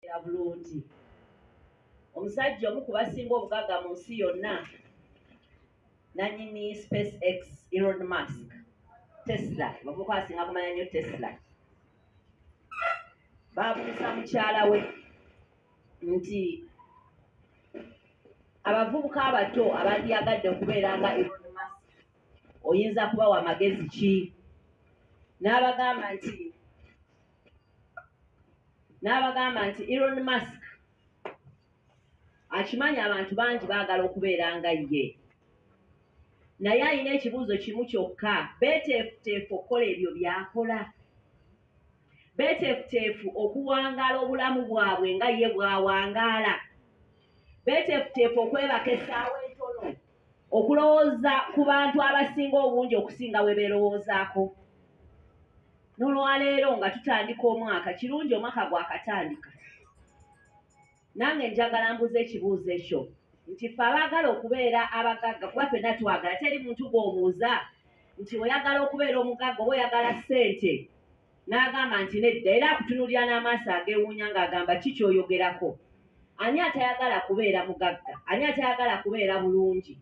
era bulungi omusajja omu ku basinga obugagga mu nsi yonna nanyini space x elon musk tesla bavuka asinga kumanya nnyo tesla baabuuza mukyala we nti abavubuka abato abandyagadde okubeera nga elon musk oyinza kubawa magezi ki n'abagamba nti n'abagamba nti elon musk akimanyi abantu bangi baagala okubeera nga ye naye alina ekibuuzo kimu kyokka beeteefuteefu okukola ebyo byakola beeteefuteefu okuwangaala obulamu bwabwe nga ye bwawangaala beeteefuteefu okwebaka essaawa entono okulowooza ku bantu abasinga obungi okusinga bwe beerowoozaako n'olwaleero nga tutandika omwaka kirungi omwaka gwakatandika nange njagala mbuza ekibuuzo ekyo nti fe abaagala okubeera abagagga kuba fenna twagala teri muntu gwobuuza nti oyagala okubeera omugagga oba oyagala ssente N'agamba nti nedda era akutunuulira n'amaaso ageewuunya ng'agamba ki ky'oyogerako? Ani atayagala kubeera mugagga? Ani atayagala kubeera bulungi?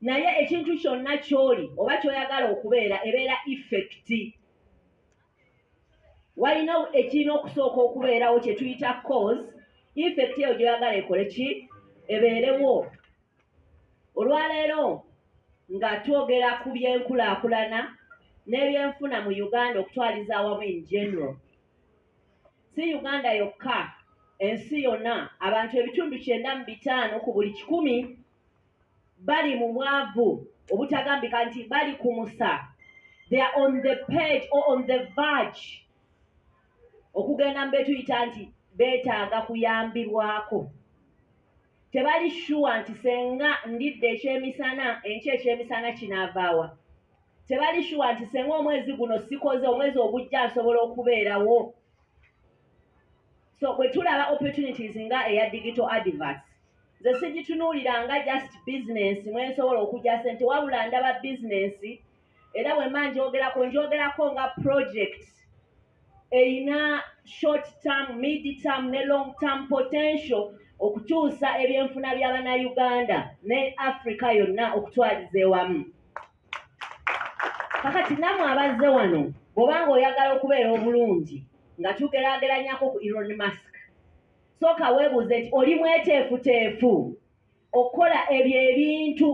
Naye ekintu kyonna ky'oli oba ky'oyagala okubeera ebeera ifekiti. Walina ekirina okusooka okubeerawo kye tuyita cause, ifekiti eyo gy'oyagala ekole ki? Ebeerewo. Olwaleero nga twogera ku by'enkulaakulana n'ebyenfuna mu Uganda okutwaliza awamu in general. Si Uganda yokka, ensi yonna abantu ebitundu kyenda mu bitaano ku buli kikumi bali mu bwavu obutagambika nti bali ku musa. They are on the page or on the verge okugenda mu betuyita nti beetaaga kuyambibwako. tebali shuwa nti senga ndidde ekyemisana enky ekyemisana kinaavaawa tebali shuwa nti senga omwezi guno sikoze omwezi ogujja nsobola okubeerawo so bwe tulaba opportunities nga eya digital adverts nze sigitunuulira nga just bizinensi mwensobola okugya sente wabula ndaba bizinensi era bwemba njogerako njogerako nga project erina short term mid term ne long term potential okukyusa ebyenfuna bya bannayuganda ne africa yonna okutwaliza ewamu kakati namwe abazze wano bwobanga oyagala okubeera obulungi nga tugerageranyako ku eron mask sooka weebuuze nti oli mweteefuteefu okukola ebyo ebintu